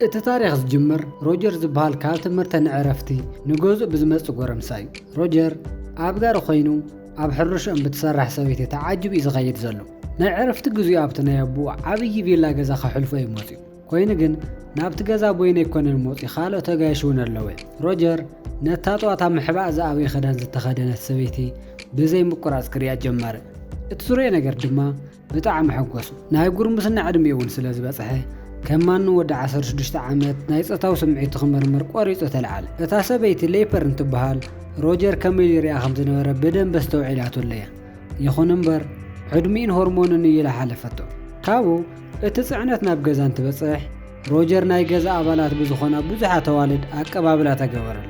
እቲ ታሪኽ ዝጅምር ሮጀር ዝበሃል ካብ ትምህርተ ንዕረፍቲ ንገዝኡ ብዝመጽእ ጎረምሳ እዩ። ሮጀር ኣብ ጋሪ ኮይኑ ኣብ ሕርሽኦም ብትሰርሕ ሰበይቲ ተዓጅቡ እዩ ዝኸይድ ዘሎ። ናይ ዕረፍቲ ግዜኡ ኣብቲ ናይ ኣቦኡ ዓብዪ ቪላ ገዛ ከሕልፎ እዩ መጺኡ። ኮይኑ ግን ናብቲ ገዛ ቦይነ ኣይኮነን መጺኡ ካልኦት ኣጋይሽ እውን ኣለዉ እዮም። ሮጀር ነታ ጠዋት ኣብ ምሕባእ ዝኣበየ ክዳን ዝተኸደነት ሰበይቲ ብዘይ ምቁራጽ ክሪኣ ጀመረ። እቲ ዝረኦ ነገር ድማ ብጣዕሚ ሕጎሱ ናይ ጉርምስና ዕድሚኡ እውን ስለ ዝበጽሐ ከም ማንም ወዲ ዓሰርተ ሽዱሽተ ዓመት ናይ ጾታዊ ስምዒቱ ክምርምር ቆሪጹ ተልዓለ። እታ ሰበይቲ ሌፐር እንትበሃል ሮጀር ከመይ ኢሉ ይሪኣ ከም ዝነበረ ብደንቢ ኣስተውዒላትሉ እያ። ይኹን እምበር ዕድሚኡን ሆርሞኑን እዩ ኢላ ሓለፈቶ። ካብኡ እቲ ጽዕነት ናብ ገዛ እንትበጽሕ ሮጀር ናይ ገዛ ኣባላት ብዝኾና ብዙሓት ኣዋልድ ኣቀባብላ ተገበረሉ።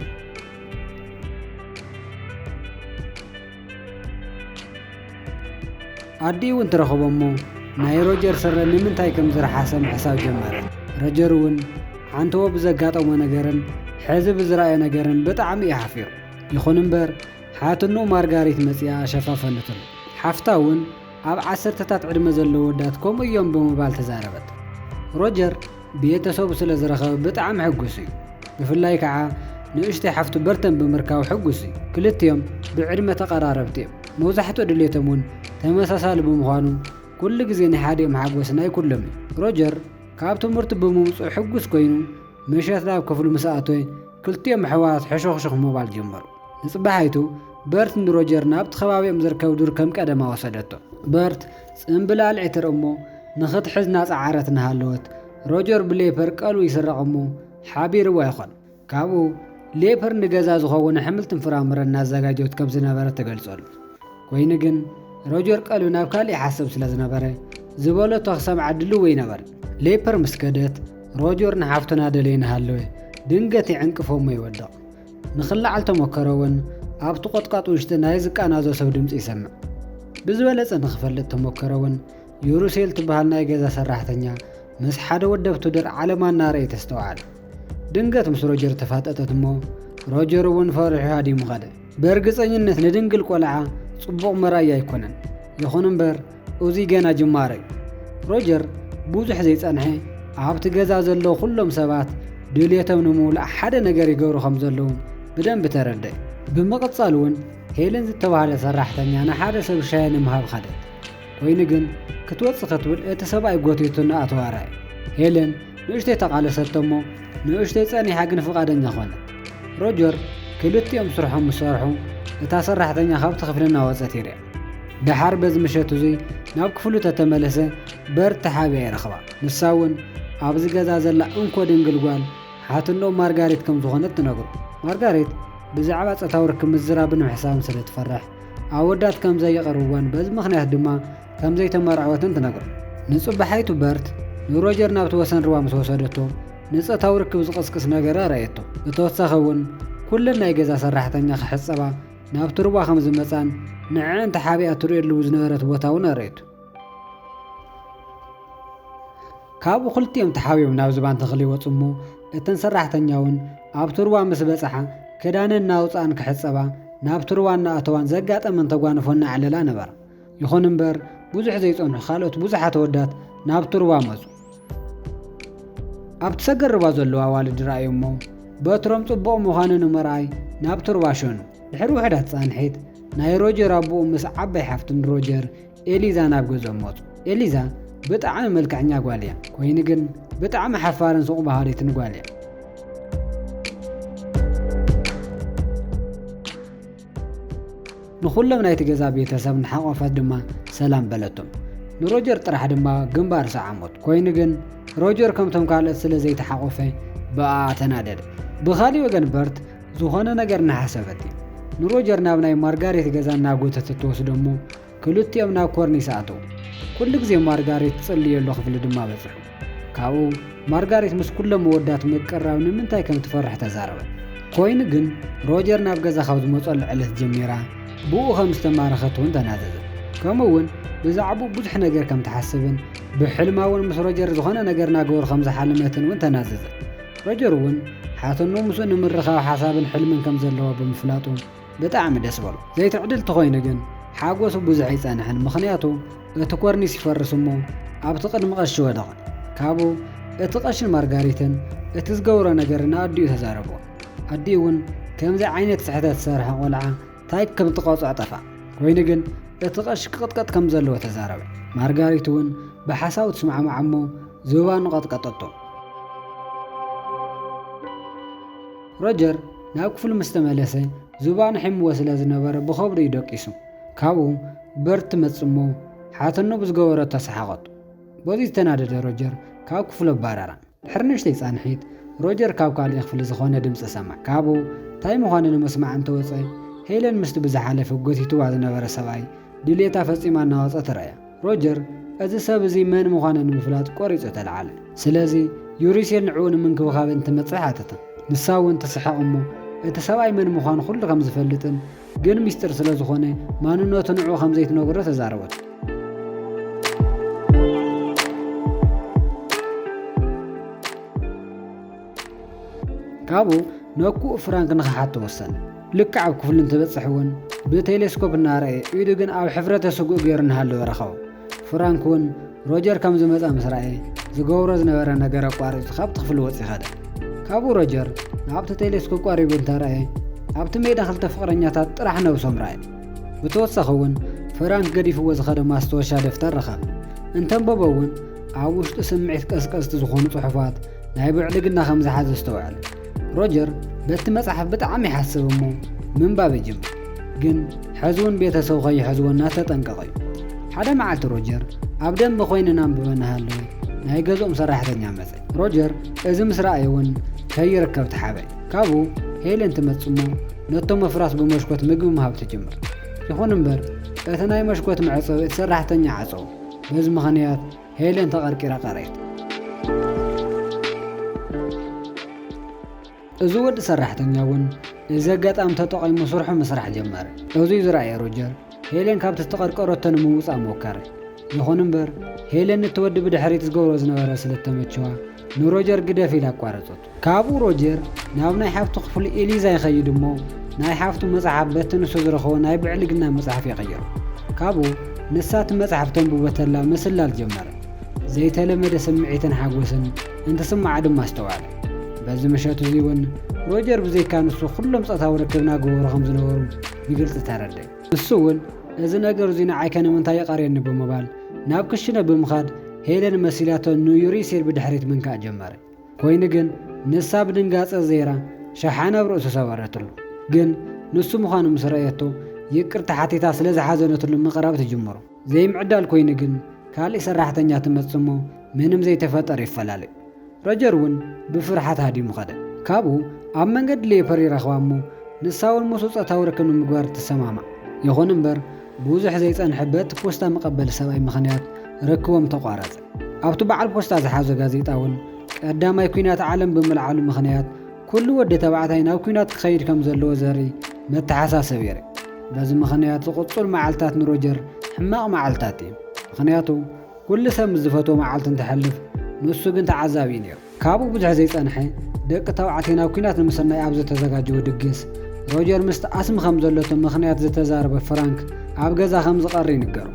ኣዲኡ እውን ትረኽቦ እሞ ናይ ሮጀር ስረ ንምንታይ ከም ዝረሓሰ ምሕሳብ ጀመረት። ረጀር እውን ሓንተዎ ብዘጋጠሞ ነገርን ሕዚ ብዝረኣዮ ነገርን ብጣዕሚ እዩ ሓፊሩ። ይኹን እምበር ሓትንኡ ማርጋሪት መፂኣ ሸፋፈነትሉ። ሓፍታ እውን ኣብ ዓሰርተታት ዕድመ ዘለዉ ወዳት ከምኡ እዮም ብምባል ተዛረበት። ሮጀር ብየተሰቡ ስለ ዝረኸበ ብጣዕሚ ሕጉስ እዩ። ብፍላይ ከኣ ንእሽተይ ሓፍቱ በርተን ብምርካቡ ሕጉስ እዩ። ክልቲኦም ብዕድመ ተቐራረብቲ እዮም። መብዛሕትኡ ድሌቶም እውን ተመሳሳሊ ብምዃኑ ኩሉ ግዜ ናይ ሓዲኦም ሓጎስ ናይ ኩሎም እዩ። ሮጀር ካብ ትምህርቱ ብምምጽኡ ሕጉስ ኮይኑ ምሸት ናብ ክፍሉ ምስ ኣተወ ክልቲኦም ኣሕዋት ሕሹኽሹኽ ምባል ጀመሩ። ንጽባሒቱ በርት ንሮጀር ናብቲ ከባቢኦም ዝርከብ ዱር ከም ቀደማ ወሰደቶ። በርት ጽምብል ኣልዒትር እሞ ንኽትሕዝ ናጸዓረት እናሃለወት፣ ሮጀር ብሌፐር ቀልቡ ይስረቕ እሞ ሓቢርዋ ይኾን። ካብኡ ሌፐር ንገዛ ዝኸውን ኣሕምልትን ፍራምረን እናዘጋጀወት ከም ዝነበረት ትገልጸሉ። ኮይኑ ግን ሮጀር ቀልቢ ናብ ካልእ ይሓሰብ ስለ ዝነበረ ዝበለቶ ክሰምዓ ድልው ኣይነበርን። ሌፐር ምስ ከደት ሮጀር ንሓፍቱ እናደለየ እናሃለወ ድንገት ይዕንቅፎ እሞ ይወድቕ። ንክለዓል ተሞከረ እውን ኣብቲ ቆጥቃጥ ውሽጢ ናይ ዝቃናዞ ሰብ ድምፂ ይሰምዕ። ብዝበለፀ ንክፈልጥ ተሞከረ እውን ዩሩሴል ትበሃል ናይ ገዛ ሰራሕተኛ ምስ ሓደ ወደብቱ ድር ዓለማ እናረእየ ተስተውዓል። ድንገት ምስ ሮጀር ተፋጠጠት እሞ ሮጀር እውን ፈሪሑ ሃዲሙ ከደ። ብእርግፀኝነት ንድንግል ቆልዓ ፅቡቕ መርኣያ ኣይኮነን። ይኹን እምበር እዚ ገና ጅማረ እዩ። ሮጀር ብዙሕ ዘይጸንሐ ኣብቲ ገዛ ዘለዉ ኩሎም ሰባት ድልየቶም ንምውላእ ሓደ ነገር ይገብሩ ከም ዘለዉ ብደንቢ ተረድእ። ብምቕጻል እውን ሄለን ዝተባህለ ሰራሕተኛ ንሓደ ሰብ ሻሂ ንምሃብ ኸደት። ኮይኑ ግን ክትወጽእ ክትብል እቲ ሰብኣይ ጎቲቱ እናኣተዋ ረኣየ። ሄለን ንእሽተይ ተቓለሰቶ እሞ ንእሽተይ ጸኒሓ ግን ፍቓደኛ ኾነት። ሮጀር ክልቲኦም ስርሖም ምስ ሰርሑ እታ ሰራሕተኛ ካብቲ ክፍሊ እናወጸት ይርኣ። ደሓር በዚ ምሸት እዙይ ናብ ክፍሉ ተተመለሰ በር ተሓቢኣ ይረኽባ። ንሳ እውን ኣብዚ ገዛ ዘላ እንኮ ድንግል ጓል ሓትኖ ማርጋሬት ከም ዝኾነት ትነግሮ። ማርጋሬት ብዛዕባ ጸታዊ ርክብ ምዝራብን ምሕሳብን ስለ ትፈርሕ ኣወዳት ከም ዘይቐርብዋን በዚ ምኽንያት ድማ ከም ዘይተመርዐወትን ትነግሮ። ንጽባሓይቱ በርት ንሮጀር ናብቲ ወሰን ርባ ምስ ወሰደቶ ንጸታዊ ርክብ ዝቕስቅስ ነገረ ረኣየቶ። ብተወሳኺ እውን ኩለን ናይ ገዛ ሰራሕተኛ ክሕጸባ ናብቲ ሩባ ከም ዝመጽኣን ንዐኣን ተሓቢኣ እትርእየሉ ዝነበረት ቦታ እውን ኣርእየቶ። ካብኡ ክልቲኦም ተሓቢኦም ናብ ዝባን ተኽሊ ይወጹ እሞ እተን ሰራሕተኛ እውን ኣብቲ ሩባ ምስ በጽሓ ክዳነን እናውጽኣን ክሕጸባ ናብቲ ሩባ እናኣተዋን ዘጋጠመን ተጓንፎ እናዕለላ ነበራ። ይኹን እምበር ብዙሕ ዘይጸንሑ ካልኦት ብዙሓት ኣወዳት ናብቲ ሩባ መጹ። ኣብቲ ሰገር ሩባ ዘለዉ ኣዋልድ ረኣዩ እሞ በትሮም ጽቡቕ ምዃኑ ንምርኣይ ናብቲ ሩባ ሸኑ። ድሕሪ ውሕዳት ጻንሒት ናይ ሮጀር ኣቦኡ ምስ ዓባይ ሓፍቱን ሮጀር ኤሊዛ ናብ ገዝኦም መጹ። ኤሊዛ ብጣዕሚ መልክዐኛ ጓል እያ፣ ኮይኑ ግን ብጣዕሚ ሓፋርን ሱቕ ባህሪትን ጓል እያ። ንኹሎም ናይቲ ገዛ ቤተሰብ ንሓቖፈት ድማ ሰላም በለቶም። ንሮጀር ጥራሕ ድማ ግንባር ሰዓሞት። ኮይኑ ግን ሮጀር ከምቶም ካልኦት ስለ ዘይተሓቖፈ ብኣኣ ተናደደ። ብኻሊእ ወገን በርት ዝኾነ ነገር እናሓሰበት እዩ ንሮጀር ናብ ናይ ማርጋሬት ገዛ እናጎተተት ትወስዶ እሞ ክልቲኦም ናብ ኮርኒስ ኣተዉ። ኩሉ ግዜ ማርጋሬት ትጽልየሉ ክፍሊ ድማ በጽሑ። ካብኡ ማርጋሬት ምስ ኩሎም መወዳት ምቅራብ ንምንታይ ከም ትፈርሕ ተዛረበት። ኮይኑ ግን ሮጀር ናብ ገዛ ካብ ዝመጸሉ ዕለት ጀሚራ ብእኡ ከም ዝተማረኸት እውን ተናዘዘት። ከምኡ እውን ብዛዕብኡ ብዙሕ ነገር ከም ትሓስብን ብሕልማ እውን ምስ ሮጀር ዝኾነ ነገር እናገበሩ ከም ዝሓለመትን እውን ተናዘዘት። ሮጀር እውን ሓትኖ ምስኡ ንምርኻብ ሓሳብን ሕልምን ከም ዘለዋ ብምፍላጡ ብጣዕሚ ደስ በሎ ዘይትዕድል ተኾይኑ ግን ሓጎሱ ብዙሕ ኣይጸንሐን ምኽንያቱ እቲ ኮርኒስ ይፈርስ እሞ ኣብቲ ቅድሚ ቀሺ ወደቐ ካብኡ እቲ ቀሽን ማርጋሪትን እቲ ዝገብሮ ነገር ንኣዲኡ ተዛረብዎ ኣዲኡ እውን ከምዚ ዓይነት ስሕተት ዝሰርሐ ቆልዓ ታይ ከም ትቐፅዖ ጠፍኣ ኮይኑ ግን እቲ ቀሺ ክቕጥቀጥ ከም ዘለዎ ተዛረበ ማርጋሪት እውን ብሓሳቡ ትስማዕማዕ እሞ ዝባኑ ቀጥቀጠቶ ሮጀር ናብ ክፍሉ ምስ ተመለሰ፣ ዙባን ኣሒምዎ ስለ ዝነበረ ብኸብዱ'ዩ ደቂሱ። ካብኡ በርት ትመጽእ'ሞ ሓተኖ ብዝገበረቶ ሰሓቐቶ። በዚ ዝተናደደ ሮጀር ካብ ክፍሉ ኣባረራ። ድሕሪ ንእሽተይ ጻንሒት፣ ሮጀር ካብ ካልእ ክፍሊ ዝኾነ ድምጺ ሰምዐ። ካብኡ ታይ ምዃኑ ንምስማዕ እንተወጸ፣ ሄለን ምስቲ ብዝሓለፈ ጎቲትዋ ዝነበረ ሰብኣይ ድልየታ ፈጺማ እናወጸት ረኣያ። ሮጀር እዚ ሰብ እዚ መን ምዃኑ ንምፍላጥ ቈሪጹ ተለዓለ። ስለዚ፣ ዩሪሴል ንዕኡ ንምንክብኻብ እንትመጽእ ሓተታ። ንሳ እውን ትስሕቕ እሞ፣ እቲ ሰብኣይ መን ምዃኑ ዅሉ ኸም ዝፈልጥን ግን ምስጢር ስለ ዝዀነ ማንነቱ ንዕኡ ኸም ዘይትነግሮ ተዛረበቶ። ካብኡ ነኩኡ ፍራንክ ንኽሓቶ ወሰነ። ልክዕ ኣብ ክፍሉ እንትበጽሕ እውን ብቴሌስኮፕ እናረኣየ ኢዱ ግን ኣብ ሕፍረተ ስግኡ ገይሩ እናሃለወ ረኸቦ። ፍራንክ እውን ሮጀር ከም ዝመጽኣ ምስ ረኣየ ዝገብሮ ዝነበረ ነገር ኣቋሪጹ ካብቲ ክፍሊ ወጺኡ ከደ። ካብኡ ሮጀር ናብቲ ቴሌስኮፕ ቀሪቡ እንተረኣየ ኣብቲ ሜዳ ክልተ ፍቕረኛታት ጥራሕ ነብሶም ረኣየ። ብተወሳኺ እውን ፍራንክ ገዲፍዎ ዝኸደ ማስታወሻ ደፍተር ረኸበ። እንተንበቦ እውን ኣብ ውሽጡ ስምዒት ቀስቀስቲ ዝኾኑ ጽሑፋት ናይ ብዕልግና ከም ዝሓዘ ኣስተውዕል። ሮጀር በቲ መጽሓፍ ብጣዕሚ ይሓስብ እሞ ምንባብ ይጅምር። ግን ሕዚ እውን ቤተሰቡ ከይሕዝዎ እናተጠንቀቐ እዩ። ሓደ መዓልቲ ሮጀር ኣብ ደንበ ኮይኑ እናንበበ እናሃለወ ናይ ገዝኦም ሰራሕተኛ መጸ። ሮጀር እዚ ምስ ረኣየ እውን ከይርከብ ተሓበ። ካብኡ ሄለን ትመጽእ እሞ ነቶም ኣፍራስ ብመሽኮት ምግቢ ምሃብ ትጅምር። ይኹን እምበር እቲ ናይ መሽኮት መዕጸዊ እቲ ሰራሕተኛ ዓጸዎ። በዚ ምኽንያት ሄለን ተቐርቂራ ቀረየት። እዚ ወዲ ሰራሕተኛ እውን እዚ ኣጋጣሚ ተጠቒሙ ስርሑ ምስራሕ ጀመረ። እዙይ ዝረኣየ ሮጀር፣ ሄለን ካብቲ ዝተቐርቀረቶ ንምውፃእ ሞከረ። ይኹን እምበር፣ ሄለን ንቲ ወዲ ብድሕሪት ዝገብሮ ዝነበረ ስለዝተመቸዋ፣ ንሮጀር ግደፍ ኢላ ኣቋረፀቶ። ካብኡ ሮጀር ናብ ናይ ሓፍቱ ክፍሊ ኤሊዛ ይኸይድ እሞ ናይ ሓፍቱ መጽሓፍ በቲ ንሱ ዝረኸቦ ናይ ብዕልግና መጽሓፍ ይቕይሮ። ካብኡ ንሳ እቲ መጽሓፍ ተንብቦ ተላ ምስላል ጀመረ። ዘይተለመደ ስምዒትን ሓጎስን እንትስምዓ ድማ ኣስተውዓለ። በዚ ምሸት እዚ እውን ሮጀር ብዘይካ ንሱ ኩሎም ጾታዊ ርክብ እናገበሩ ከም ዝነበሩ ብግልጺ ተረድእ። ንሱ እውን እዚ ነገር እዚ ንዓይከ ንምንታይ ይቐርየኒ ብምባል ናብ ክሽነ ብምኻድ ሄለን መሲላቶ ንዩሪሲር ብድሕሪት ምንካእ ጀመረ። ኮይኑ ግን ንሳ ብድንጋጸ ዘይራ ሸሓነ ኣብ ርእሱ ሰበረትሉ። ግን ንሱ ምዃኑ ምስ ረኣየቶ ይቅርታ ሓቲታ ስለ ዝሓዘነትሉ ምቅራብ ትጅምሩ። ዘይምዕዳል ኮይኑ ግን ካልእ ሰራሕተኛ ትመጽእ እሞ ምንም ዘይተፈጠረ ይፈላለዩ። ሮጀር እውን ብፍርሓት ሃዲሙ ከደ። ካብኡ ኣብ መንገዲ ሌፐር ይረኽባ እሞ ንሳ እውን ምስኡ ጾታዊ ርክብ ንምግባር ትሰማማዕ። ይኹን እምበር ብዙሕ ዘይጸንሐ በቲ ፖስታ መቀበሊ ሰብኣይ ምኽንያት ርክቦም ተቋረጸ። ኣብቲ በዓል ፖስታ ዝሓዞ ጋዜጣ እውን ቀዳማይ ኲናት ዓለም ብምልዓሉ ምኽንያት ኩሉ ወዲ ተባዕታይ ናብ ኲናት ክኸይድ ከም ዘለዎ ዘርኢ መተሓሳሰቢ የርኢ። በዚ ምኽንያት ዝቕጹል መዓልታት ንሮጀር ሕማቕ መዓልታት እዮም፣ ምኽንያቱ ኩሉ ሰብ ምስ ዝፈትዎ መዓልቲ እንትሐልፍ ንሱ ግን ተዓዛቢ እዩ ነይሩ። ካብኡ ብዙሕ ዘይጸንሐ፣ ደቂ ተባዕትዮ ናብ ኲናት ንምስናይ ኣብ ዝተዘጋጀዉ ድግስ፣ ሮጀር ምስቲ ኣስሚ ከም ዘለቶ ምኽንያት ዝተዛረበ ፍራንክ ኣብ ገዛ ከም ዝቐሪ ይንገሮ።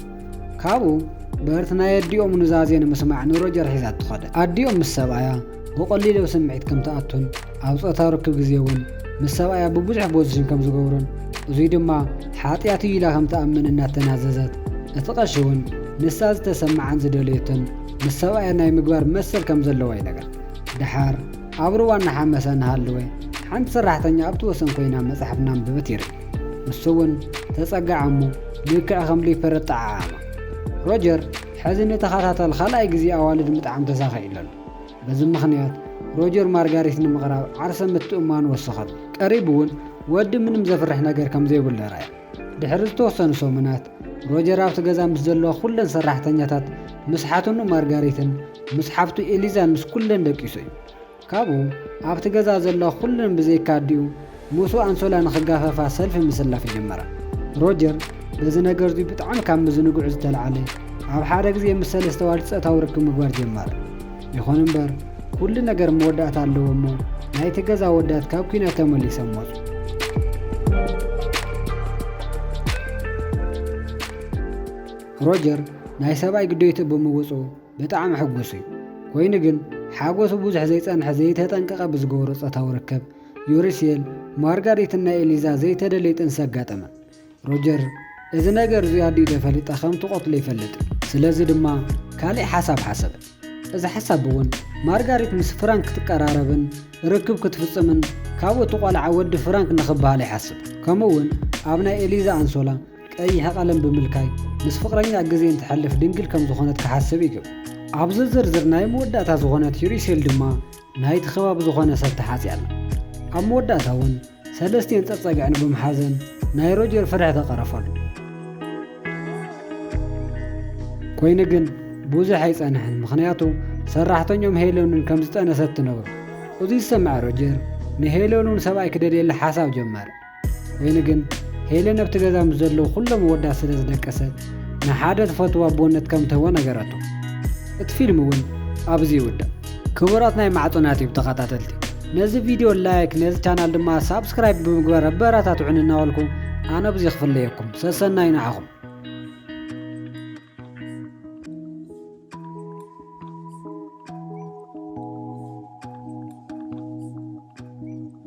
ካብኡ፣ በርት ናይ ኣዲኦም ኑዛዜ ንምስማዕ ንሮጀር ሒዛቶ ከደት። ኣዲኦም ምስ ሰብኣያ ብቐሊሉ ኣብ ስምዒት ከም ትኣቱን ኣብ ጾታዊ ርክብ ግዜ እውን ምስ ሰብኣያ ብብዙሕ ቦዚሽን ከም ዝገብሩን እዙይ ድማ ሓጥያት እዩ ኢላ ከም ትኣምን እናተናዘዘት እቲ ቀሺ እውን ንሳ ዝተሰምዓን ዝደለዮቶን ምስ ሰብኣያ ናይ ምግባር መሰል ከም ዘለዋ ይነገር። ደሓር፣ ኣብ ሩባ እናሓመሰ እናሃለወ፣ ሓንቲ ሰራሕተኛ ኣብቲ ወሰን ኮይና መጽሓፍ እናንበበት ይርኢ። ንሱ'ውን ተጸግዓ እሞ ልክዕ ከም ሊፐረት ጠዓዓማ። ሮጀር ሕዚ ንተኸታታሊ ካልኣይ ግዜ ኣዋልድ ምጥዓም ተሳኺዑሉ ኣሎ። በዚ ምኽንያት፣ ሮጀር ማርጋሪት ንምቕራብ ዓርሰ ምትእምማኑ ወሰኸሉ። ቀሪቡ'ውን ወዲ ምንም ዘፍርሕ ነገር ከም ዘይብሉ ኣርኣየ። ድሕሪ ዝተወሰኑ ሰሙናት፣ ሮጀር ኣብቲ ገዛ ምስ ዘለዋ ኵለን ሰራሕተኛታት፣ ምስ ሓትኑ ማርጋሪትን ምስ ሓብቱ ኤሊዛን ምስ ኵለን ደቂሱ እዩ። ካብኡ፣ ኣብቲ ገዛ ዘለዋ ኵለን ብዘይካ ኣዲኡ፣ ምስኡ ኣንሶላ ንኽጋፈፋ ሰልፊ ምስላፍ ጀመራ። ሮጀር በዚ ነገር እዚ ብጣዕሚ ካብ ምዝንግዑ ዝተልዓለ፣ ኣብ ሓደ ግዜ ምስ ሰለስተ ኣዋልድ ጸታዊ ርክብ ምግባር ጀመረ። ይኹን እምበር ኩሉ ነገር መወዳእታ ኣለዎ እሞ ናይቲ ገዛ ኣወዳት ካብ ኩናት ተመሊሰሞል ሮጀር ናይ ሰብኣይ ግዴቱ ብምውፁ ብጣዕሚ ሕጉስ እዩ ኮይኑ ግን ሓጎሱ ብዙሕ ዘይጸንሐ ዘይተጠንቀቐ ብዝገብሮ ጾታዊ ርከብ ዩሪሴል ማርጋሪትን ናይ ኤሊዛ ዘይተደለየ ጥንሲ ኣጋጠመን ሮጀር፣ እዚ ነገር እዚ ኣዲኡ ተፈሊጣ ከም ትቐትሎ ይፈልጥ እዩ። ስለዚ ድማ ካልእ ሓሳብ ሓሰበ። እዚ ሓሳብ እውን ማርጋሪት ምስ ፍራንክ ክትቀራረብን ርክብ ክትፍጽምን ካብኡ እቲ ቆልዓ ወዲ ፍራንክ ንኽበሃል ይሓስብ። ከምኡ እውን ኣብ ናይ ኤሊዛ ኣንሶላ ቀይሕ ቐለም ብምልካይ ምስ ፍቕረኛኣ ግዜ እንተሕልፍ ድንግል ከም ዝኾነት ክሓስብ ይገብር። ኣብዚ ዝርዝር ናይ መወዳእታ ዝኾነት ዩሪሴል ድማ ናይቲ ከባቢ ዝኾነ ሰብ ተሓጽያ ኣላ። ኣብ መወዳእታ እውን ሰለስቲኤን ጸጸግዐን ብምሓዘን ናይ ሮጀር ፍርሒ ተቐረፈሉ። ኮይኑ ግን ብዙሕ ኣይጸንሐን ምኽንያቱ ሰራሕተኞም ሄለንን ከም ዝጠነሰት ትነግሮ። እዚ ዝሰምዐ ሮጀር ንሄለንን ሰብኣይ ክደልየላ ሓሳብ ጀመረ። ኮይኑ ግን ሄለን ኣብቲ ገዛ ምስ ዘለዉ ኩሎም ወዳ ስለ ዝደቀሰት ንሓደ ትፈትዎ ኣቦነት ከም ትህቦ ነገረቶ። እቲ ፊልም እውን ኣብዚ ይውዳእ። ክቡራት ናይ ማዕጦና ቲዩብ ተኸታተልቲ ነዚ ቪድዮ ላይክ ነዚ ቻናል ድማ ሳብስክራይብ ብምግባር ኣበረታትዑኒ እናበልኩ ኣነ ብዚ ክፍለየኩም ሰሰናዩ ንዓኹም።